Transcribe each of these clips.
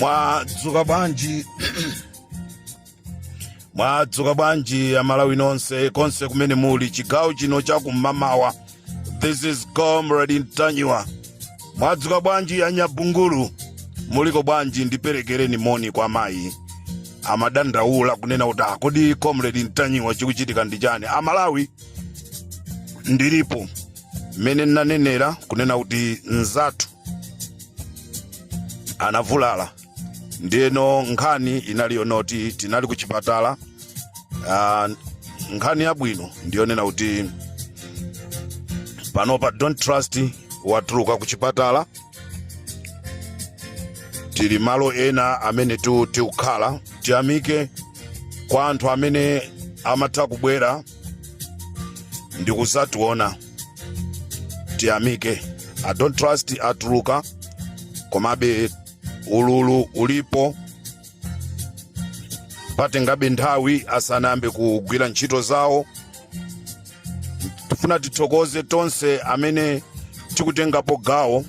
mwadzuka bwanji mwadzuka bwanji amalawi nonse konse kumene muli chigawo chino chakum'mamawa this is comrade ntanyiwa mwadzuka bwanji anyabungulu muliko bwanji ndiperekereni moni kwa mayi amadandaula kunena kuti a kodi comrade ntanyiwa chikuchitika ndi chani amalawi ndilipo mmene ndinanenera kunena kuti mzathu anavulala ndiyeno nkhani inali yonoti tinali ku chipatala ah, nkhani yabwino ndiyonena kuti panopa don't trust watuluka ku chipatala tili malo ena amene tikukhala tiyamike kwa anthu amene amatha kubwera ndi kuzationa tiyamike a don't trust atuluka komabe ululu ulipo patengabe nthawi asanayambe kugwira ntchito zawo tifuna tithokoze tonse amene tikutengapo gawo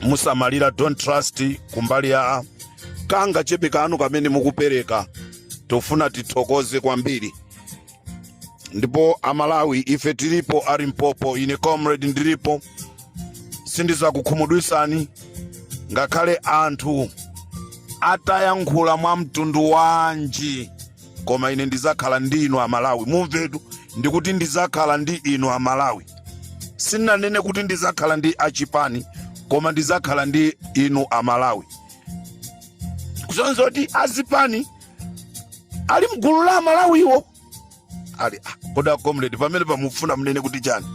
lomusamalira don't trust kumbali ya kangachepe kanu kamene mukupereka tofuna tithokoze kwambiri ndipo amalawi ife tilipo a limpopo ine comrade ndilipo sindizakukhumudwisani ngakhale anthu atayankhula mwa mtundu wanji koma ine ndizakhala ndi inu amalawi mumvetu ndikuti ndizakhala ndi inu amalawi sinanene kuti ndizakhala ndi achipani koma ndizakhala ndi inu amalawi kusonza kuti azipani ali mgulu la amalawiwo ali ah, kodi a comrade pamenepa mufuna mnene kuti chani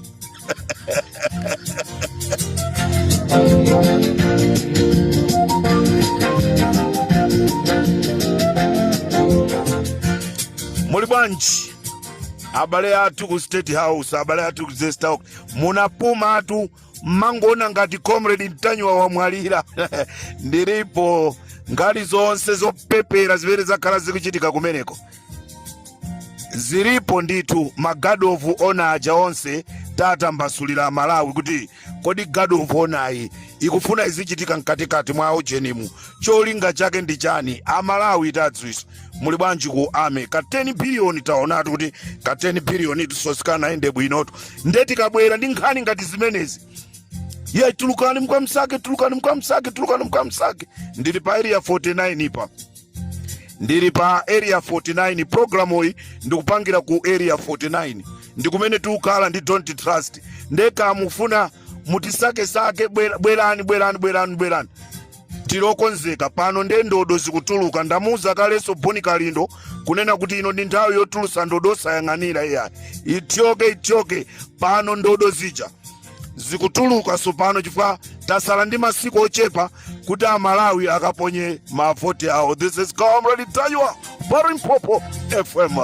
muli bwanji abale athu ku state house abale athu ku zest house munapumatu mmangoona ngati comrade ntanyiwa wamwalira ndilipo nkhani zonse zopepera zimene zakhala zikuchitika kumeneko zilipo ndithu ma guard of honor aja onse tatambasulira amalawi kuti kodi guard of honor yi ikufuna izichitika mkatikati mwa ujenimu cholinga chake ndi chani amalawi tadziwisa muli bwanji ku army ka 10 biliyoni taonatu kuti ka 10 biliyoni tuso sikanaende bwinotu nde tikabwera ndi nkhani ngati zimenezi ye tulukani mkwamsake tulukani mkwamsake tulukani mkwamsake ndili pa area 49 pa ndili pa area 49 programu iyi ndikupangira ku area 49 ndikumene tikukhala ndi don tarz ndeka mufuna mutisakesake bwera- bwerani bwerani bwerani bwerani tilokonzeka pano nde ndodo zikutuluka ndamuuza kalenso boni kalindo kunena kuti ino ndi nthawi yotulusa ndodo osayang'anira iyayi ithyoke ithyoke pano ndodo zija zikutuluka tsopano chifukwa tasala ndi masiku ochepa kuti amalawi akaponye mavoti awo this is comrade ntanyiwa pa limpopo fm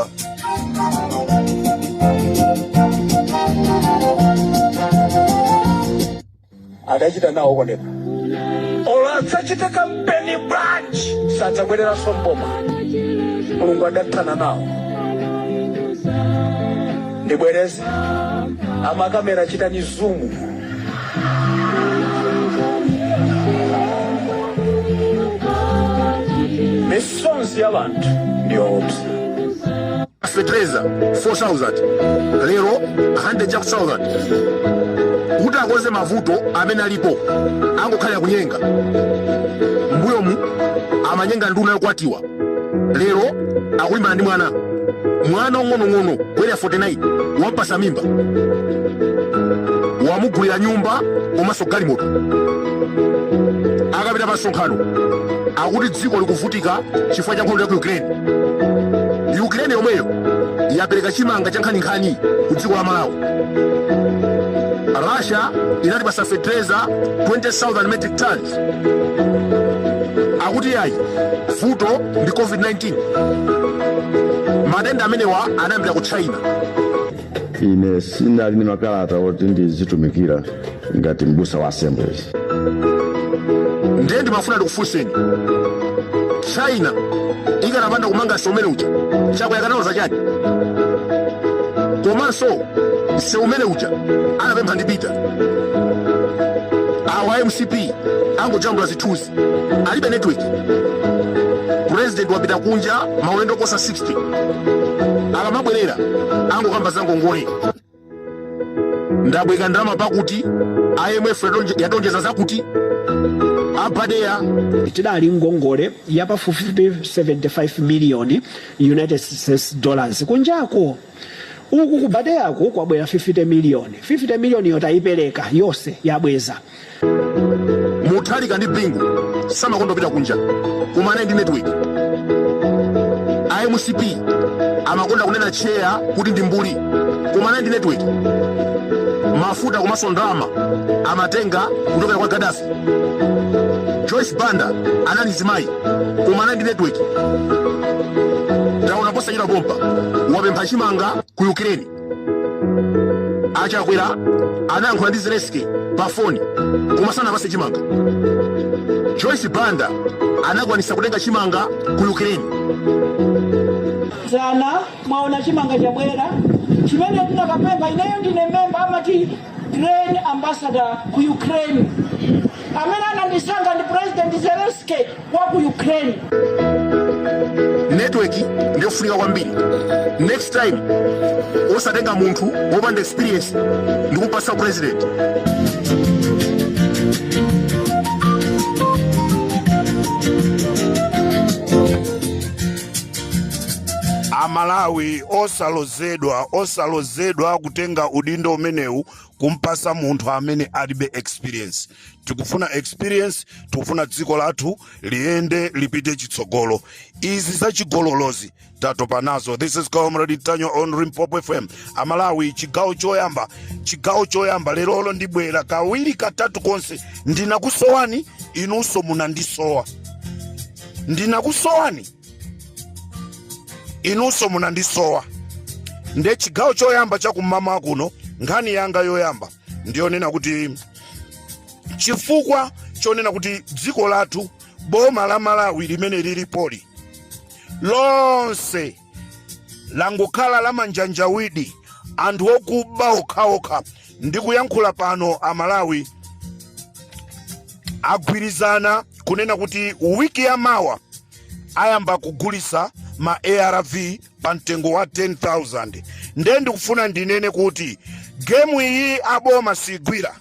adachita nawo koneka olo adzachite kampeni bwanji sadzabwereranso mboma mulungu adathana nawo Ndibwereze amakamera chitani zumu. Misonzi ya wanthu ndiyoopsa. fertilizer 4000 lero 100 chakuti thousand kuti akonze mavuto amene alipo angokhalira kunyenga mbuyomu amanyenga nduna yokwatiwa lero akulimbana ndi mwana mwana ong'onong'ono ku area 49 wampasa mimba wamugulira nyumba komanso galimoto akapita pa msonkhano akuti dziko likuvutika chifukwa cha nkhondo ya ku ukraine ukraine yomweyo yapereka chimanga cha nkhaninkhani ku dziko la malawi russia inatipasa fetereza 20000 metric tons akuti iyayi vuto ndi covid-19 matenda amenewa anayambira ku china ine sinali ndi makalata oti ndizitumikira ngati mbusa wa assemblies ndiye ndimafuna ndikufunseni china ikanapanda kumanga nseu umene uja chakwera akanaloza chani komanso nseu umene uja anapempha ndi peter awa mcp angojambula zithunzi alibe network president wapita kunja maulendo kuposa 60 akamabwerera angokamba zangongole ndabwereka ndalama pakuti imf yationje- yationjeza zakuti a badea tidali ngongole ya pafupifupi 75 miliyoni united states dollars kunjako uku ku badea ko kwabwera 50 miliyoni 50 miliyoniyo tayipereka yonse yabweza mutharika ndi bingu samakonda kupita kunja kumana ndi network a mcp amakonda kunena cheya kuti ndi mbuli kumana ndi network mafuta komanso ndalama amatenga kuchokera kwa gadafi joyce banda anali mzimayi kumana ndi network taona posachedwa pompa wapempha chimanga ku ukraine achakwera anayankhula ndi zelensky pa foni koma sanapase chimanga joyce banda anakwanisa kutenga chimanga ku ukraine dzana mwaona chimanga chabwera chimene tinakapempha ineyo ndine memba amati grain ambassador ku ukraine amene anandisankha ndi president zelensky wa ku ukraine network ndiyofunika kwambiri next time osatenga munthu wopanda experience ndikumpasa upresident amalawi osalozedwa osalozedwa kutenga udindo umenewu kumpasa munthu amene alibe experience tikufuna experience tikufuna dziko lathu liyende lipite chitsogolo izi za chigololozi tatopa nazo this is comrade ntanyiwa on limpopo fm amalawi chigawo choyamba chigawo choyamba lerolino ndibwera kawiri katatu konse ndinakusowani inunso munandisowa ndinakusowani inunso munandisowa nde chigawo choyamba chakummawa kuno nkhani yanga yoyamba ndiyonena kuti chifukwa chonena kuti dziko lathu boma la malawi limene lilipoli lonse langokhala lamanjanjawidi anthu okuba okhaokha ndikuyankhula pano amalawi agwirizana kunena kuti wiki ya mawa ayamba kugulisa ma arv pa mtengo wa 10000 nde ndikufuna ndinene kuti gemu iyi aboma sigwira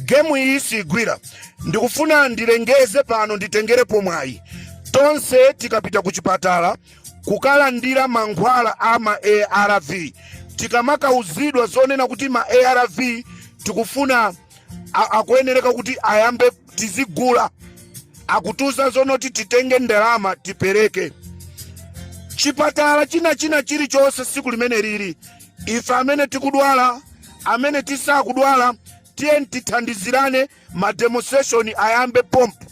gemu iyi sigwira ndikufuna ndilengeze pano nditengerepo mwayi tonse tikapita ku chipatala kukalandira mankhwala a ma arv tikamakauzidwa zonena kuti ma arv tikufuna a- akuyenereka kuti ayambe tizigula akutiuza zonoti titenge ndalama tipereke chipatala china china chilichonse siku limene lili ife amene tikudwala amene tisakudwala tiyeni tithandizirane mademonstration ayambe pompo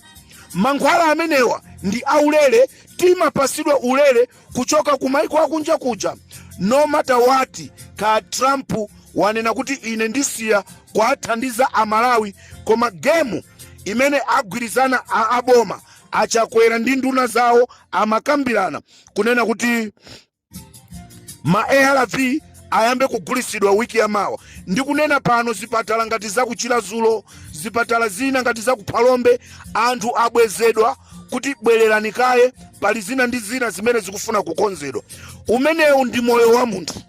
mankhwala amenewa ndi aulere timapasidwa ulere kuchoka ku maiko akunja kuja no matter what ka trump wanena kuti ine ndisiya kuwathandiza amalawi koma gemu imene agwirizana a aboma achakwera ndi nduna zawo amakambirana kunena kuti ma arv ayambe kugulisidwa wiki ya mawa ndikunena pano zipatala ngati za ku chilazulo zipatala zina ngati za ku phalombe anthu abwezedwa kuti bwererani kaye pali zina ndi zina zimene zikufuna kukonzedwa umenewu ndi moyo wa munthu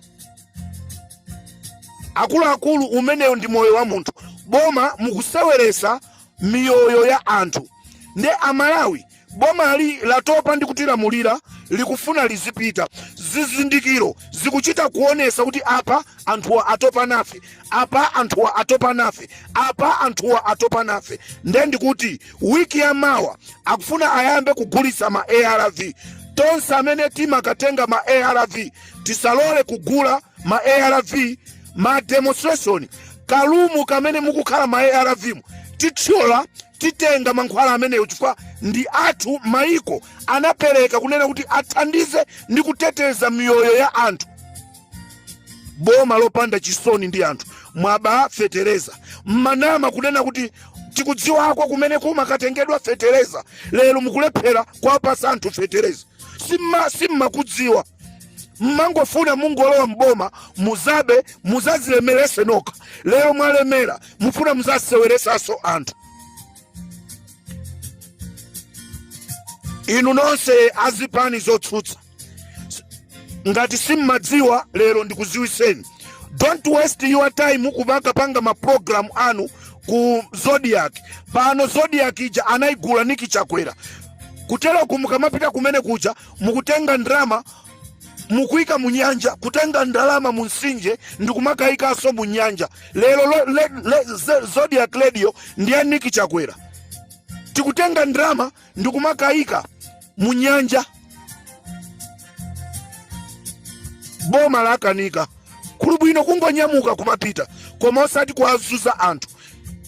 akuluakulu umenewu ndi moyo wa munthu boma mukuseweresa miyoyo ya anthu nde amalawi Bomali latopa ndi kutilamulira likufuna lizipita. Zizindikiro zikuchita kuonesa kuti apa anthuwa atopa nafe, apa anthuwa atopa nafe, apa anthuwa atopa nafe. Nde ndikuti wiki ya mawa akufuna ayambe kugulisa ma arv. Tonse amene timakatenga ma arv tisalole kugula ma arv ma demonstration ka room kamene mukukhala ma arv mu tithyola titenga mankhwala ameneyo chifukwa ndi athu maiko anapereka kunena kuti athandize ndi kuteteza miyoyo ya anthu boma lopanda chisoni ndi anthu mwaba fetereza mmanama kunena kuti tikudziwako kumene kumakatengedwa fetereza lero mukulephera kwapasa anthu fetereza simma simmakudziwa mmangofuna mungolowa mboma muzabe muzazilemerese nokha lero mwalemera mufuna muzaseweresaso anthu inu nonse azipani zotsutsa ngati simmadziwa lero ndikuziwiseni don't waste your time kukapanga maprogramu anu ku zodiac pano zodiac ija anayigula niki chakwera kuteroko mukamapita kumene kuja mukutenga ndalama mukuika mu nyanja kutenga ndalama mu nsinje ndikumakaikaso mu nyanja lero lo- le- le- ze- zodiac radio ndi ya niki chakwera tikutenga ndalama ndikumakaika mu nyanja boma lakanika kuli bwino kungonyamuka kumapita koma osati kuwazuza anthu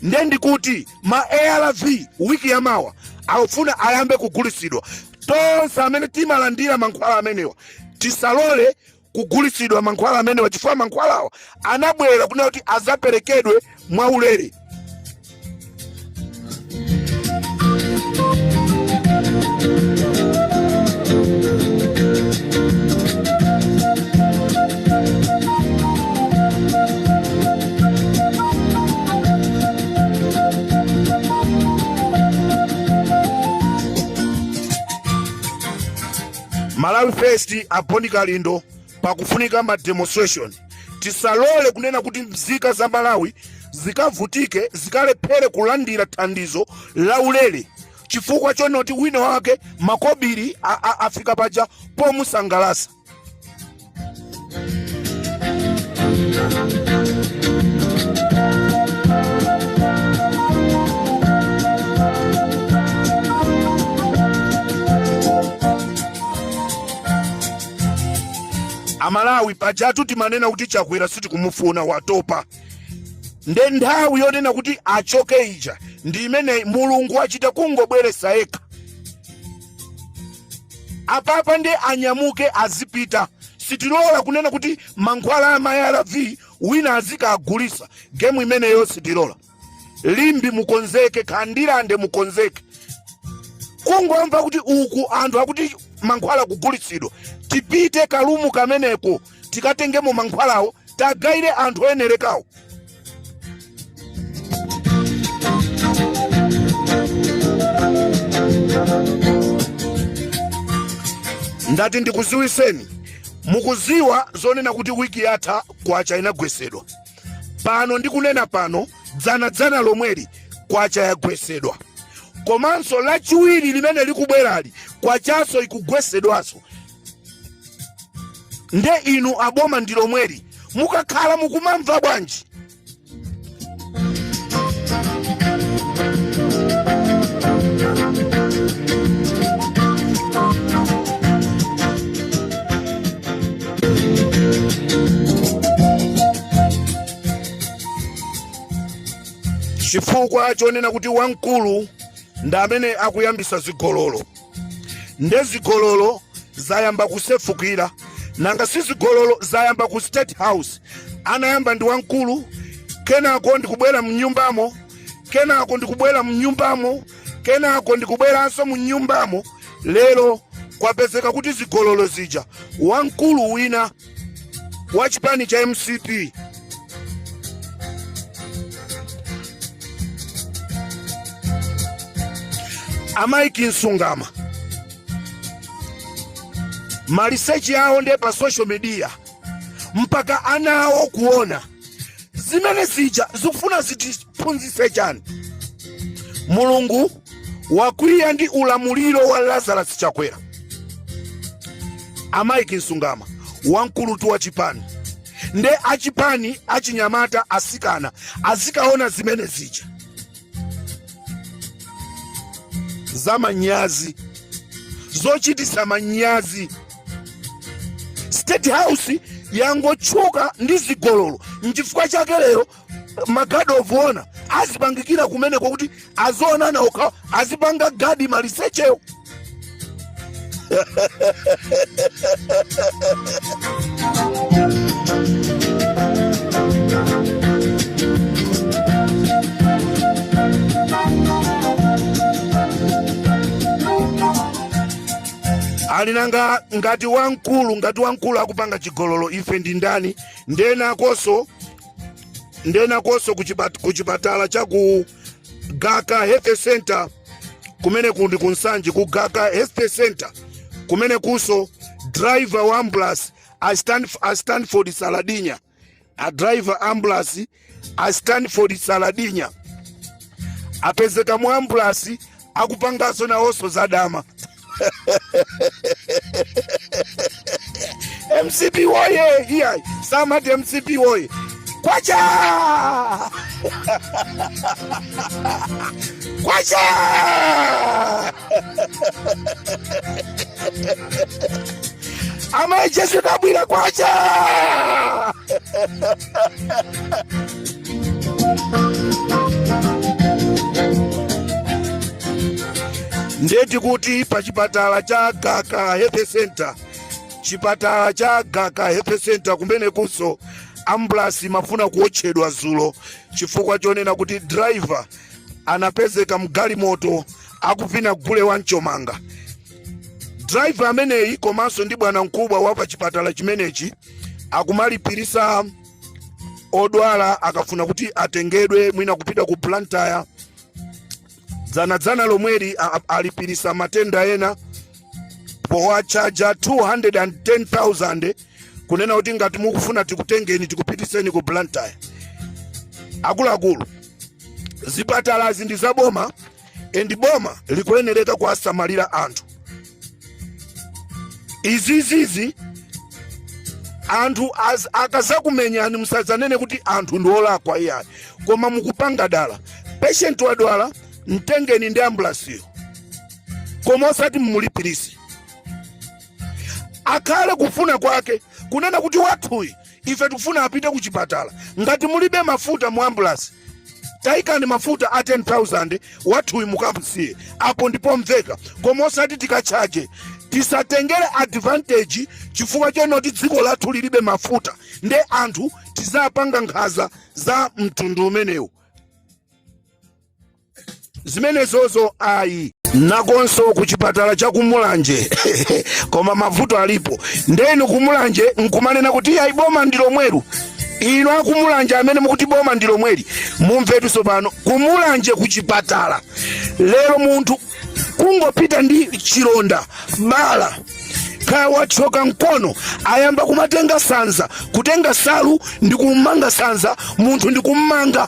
nde ndikuti ma arv wiki ya mawa akufuna ayambe kugulisidwa Tonse amene timalandira mankhwala amenewa tisalole kugulisidwa mankhwala amenewa, chifukwa mankhwalawa anabwera kunena kuti azaperekedwe mwaulere. malawi first a bon kalindo pakufunika ma demonstration tisalole kunena kuti mzika za malawi zikavutike zikalephere kulandira thandizo la ulere chifukwa chonoti wina wake makobiri a- a- afika paja pomusangalasa amalawi pajatu timanena kuti chakwera sitikumufuna watopa nde nthawi yonena kuti achoke ija ndi imeneyi mulungu achita kungobweresa yekha apapa nde anyamuke azipita sitilola kunena kuti mankhwala a ma arv wina azikagulisa gemu imeneyo sitilola limbi mukonzeke khandilande mukonzeke kungomva kuti uku anthu akuti mankhwala kugulitsidwa tipite kalumu kameneko tikatengemo mankhwalawo tagaire anthu oyenerekawo ndati ndikuziwiseni mukuziwa zonena kuti wiki yatha kwacha inagwesedwa pano ndikunena pano dzana dzana lomweli kwacha yagwesedwa komanso lachiwiri limene likubwerali kwachaso ikugwesedwaso nde inu aboma ndi lomweli mukakhala mukumamva bwanji chifukwa chonena kuti wamkulu ndi amene akuyambisa zigololo nde zigololo zayamba kusefukira nanga si zigololo zayamba ku state house anayamba ndi wamkulu kenako ndikubwera mnyumbamo kenako ndikubwera mnyumbamo kenako ndikubweranso mnyumbamo lero kwapezeka kuti zigololo zija wamkulu wina wa chipani cha mcp a mike nsungama maliseche awo ndiye pa social media mpaka ana awo kuona zimene zija zikufuna zitiphunzitse chani mulungu wakwiya ndi ulamuliro wa lazarus chakwera a Mike Nsungama wamkulutu wa chipani nde achipani achinyamata asikana azikaona zimene zija za manyazi zochitisa manyazi state house yangotchuka ndi zigololo nchifukwa chake lero magadi ovuona azipangikira kumeneko kuti azionana okhawo azipanga gadi malisechewo ali nanga ngati wamkulu ngati wamkulu akupanga chigololo ife ndi ndani ndenakonso ndenakonso kuchipat- kuchipatala cha ku gaka health center kumeneku ndi ku Nsanje ku gaka health center kumenekunso driver wa ambulance a Stanf- a stanford saladinya a driver ambulance a stanford saladinya apezeka mu ambulance akupanganso nawonso zadama mcp woye iyayi samati mcp woye kwacha kwacha amayi jesu dabwira kwacha ndeti kuti pa chipatala cha gaka health center chipatala cha gaka health center kumenekunso ambulasi imafuna kuotchedwa zulo chifukwa chonena kuti driver anapezeka mgalimoto akuvina gule wa mchomanga driver ameneyi komanso ndi bwanamkubwa wa pa chipatala chimenechi akumalipirisa odwala akafuna kuti atengedwe mwina kupita ku Blantyre dzanadzana lomweli alipirisa matenda ena powatchaja 210,000 kunena kuti ngati mukufuna tikutengeni tikupitiseni ku Blantyre akuluakulu zipatalazi ndi zaboma and boma likuyenereka kuwasamalira anthu izizizi anthu az- akazakumenyani musadzanene kuti anthu ndi olakwa iyayi koma mukupanga dala patient wadwala mtengeni ndi ambulasiyo koma osati mumulipirise akhale kufuna kwake kunena kuti wathuyi ife tikufuna apite ku chipatala ngati mulibe mafuta mu ambulasi tayikani mafuta a 10000 wathuyi mukamusiye apo ndi pomveka koma osati tikatchaje tisatengere advantage chifukwa chonoti dziko lathu lilibe mafuta nde anthu tizapanga nkhanza za mtundu umenewu zimenezozo ayi nakonso ku chipatala cha kumulanje koma mavuto alipo nde inu kumulanje nkumanena kuti ayi boma ndi lomweli inu akumulanje amene mukuti boma ndi lomweli mumvetu tsopano kumulanje ku chipatala lero munthu kungopita ndi chilonda bala kaya wathyoka mkono ayamba kumatenga sanza kutenga nsalu ndi kummanga sanza munthu ndi kummanga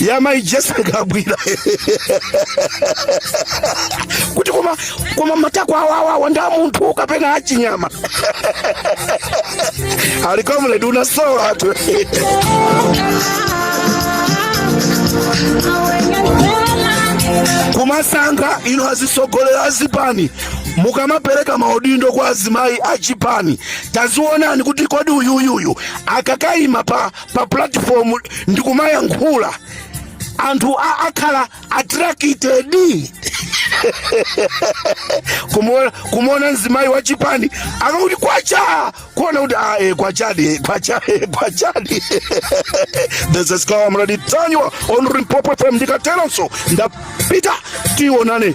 ya mai jessica kabwira kuti koma koma matako awawawa ndi a Ntanyiwa achinyamata ali comrade kunasowa tu kumasankha inu atsogoleri azipani mukamapereka maudindo kwa azimayi achipani taziwonani kuti kodi uyuyuyu akakayima pa pa platform ndikumayankhula anthu a- akhala attracted kumuona kumuona mzimayi wa chipani akakuti kwacha kuona kuti ah, eh, kwachadi kwacha eh, kwachadi this is Comrade Ntanyiwa on Limpopo FM ndikatero ndapita tionane